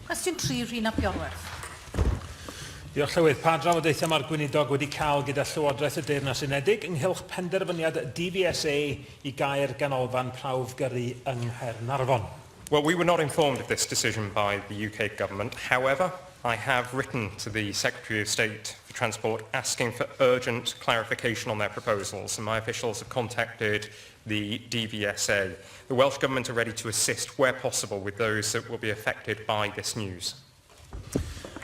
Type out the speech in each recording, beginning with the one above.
Cwestiwn 3, Rhun ap Iorwerth. Diolch, Llywydd. Pa drafodaethau mae'r Gweinidog wedi cael gyda Llywodraeth y Deyrnas Unedig ynghylch penderfyniad DVSA i gau'r ganolfan prawf gyrru yng Nghaernarfon? Well, we were not informed of this decision by the UK Government. However, I have written to the Secretary of State for Transport asking for urgent clarification on their proposals, and my officials have contacted the DVSA. The Welsh Government are ready to assist where possible with those that will be affected by this news.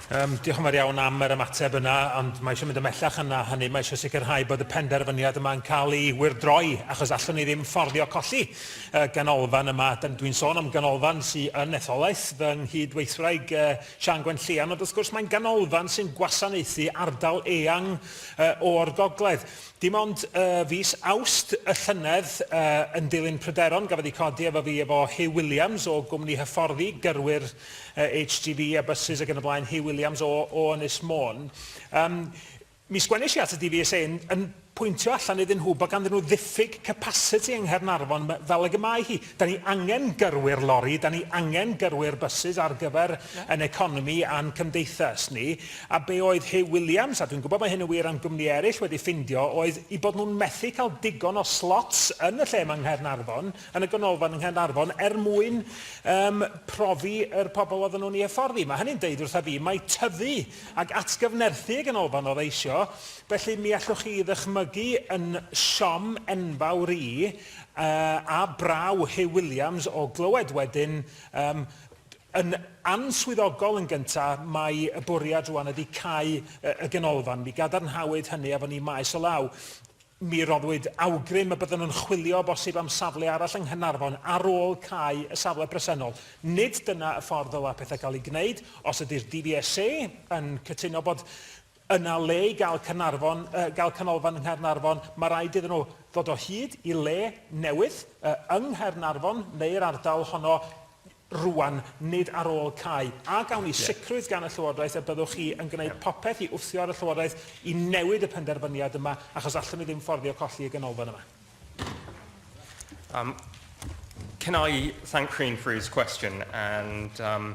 Um, diolch yn fawr iawn am yr ymateb yna, ond mae eisiau mynd ymellach yna hynny. Mae eisiau sicrhau bod y penderfyniad yma'n cael ei wirdroi, achos allwn ni ddim fforddio colli uh, ganolfan yma. Dwi'n sôn am ganolfan sy'n yn etholaeth fy nghyd-weithwraig uh, Sian Gwen Llian, ond wrth gwrs mae'n ganolfan sy'n gwasanaethu ardal eang uh, o'r gogledd. Dim ond y fis Awst y llynedd, yn dilyn pryderon gafodd eu codi efo fi efo Huw Williams o gwmni hyfforddi gyrwyr HGV a bysus ac yn y blaen, Huw Williams o, o Ynys Môn. Um, mi sgwennish i at y DVSA yn, yn pwyntio allan iddyn nhw bod ganddyn nhw ddiffyg capasiti yng Nghaernarfon fel ag y mae hi. Da ni angen gyrwyr lori, da ni angen gyrwyr bysus ar gyfer yn economi a'n cymdeithas ni, a be oedd Huw Williams, a dwi'n gwybod mae hyn yn wir am gwmni eraill, wedi ffindio oedd eu bod nhw'n methu cael digon o slots yn y lle yma yng Nghaernarfon, yn y ganolfan yng Nghaernarfon, er mwyn um, profi yr pobl oedden nhw'n ei hyfforddi. Mae hynny'n deud wrtha fi mai tyfu ac atgyfnerthu y ganolfan oedd eisio, felly mi allwch chi ddychmygu yn siom enfawr i, a braw Huw Williams o glywed wedyn um, yn answyddogol yn gyntaf, mae y bwriad rwan ydy cau y ganolfan. Mi gadarnhawyd hynny efo ni maes o law. Mi roddwyd awgrym y bydden nhw'n chwilio bosib am safle arall yng Nghynarfon ar ôl cau y safle presennol. Nid dyna y ffordd ddylai pethau gael eu gwneud. Os ydy'r DVSA yn cytuno bod Yna le i gael Caernarfon, yy gael canolfan yng Nghaernarfon, mae rhaid iddyn nhw ddod o hyd i le newydd, yy yng Nghaernarfon neu'r ardal honno rŵan, nid ar ôl cau. A gawn ni sicrwydd gan y Llywodraeth y byddwch chi yn gwneud popeth i wthio ar y Llywodraeth i newid y penderfyniad yma, achos allwn ni ddim fforddio colli y ganolfan yma. Um, can I thank Rhun for his question and um,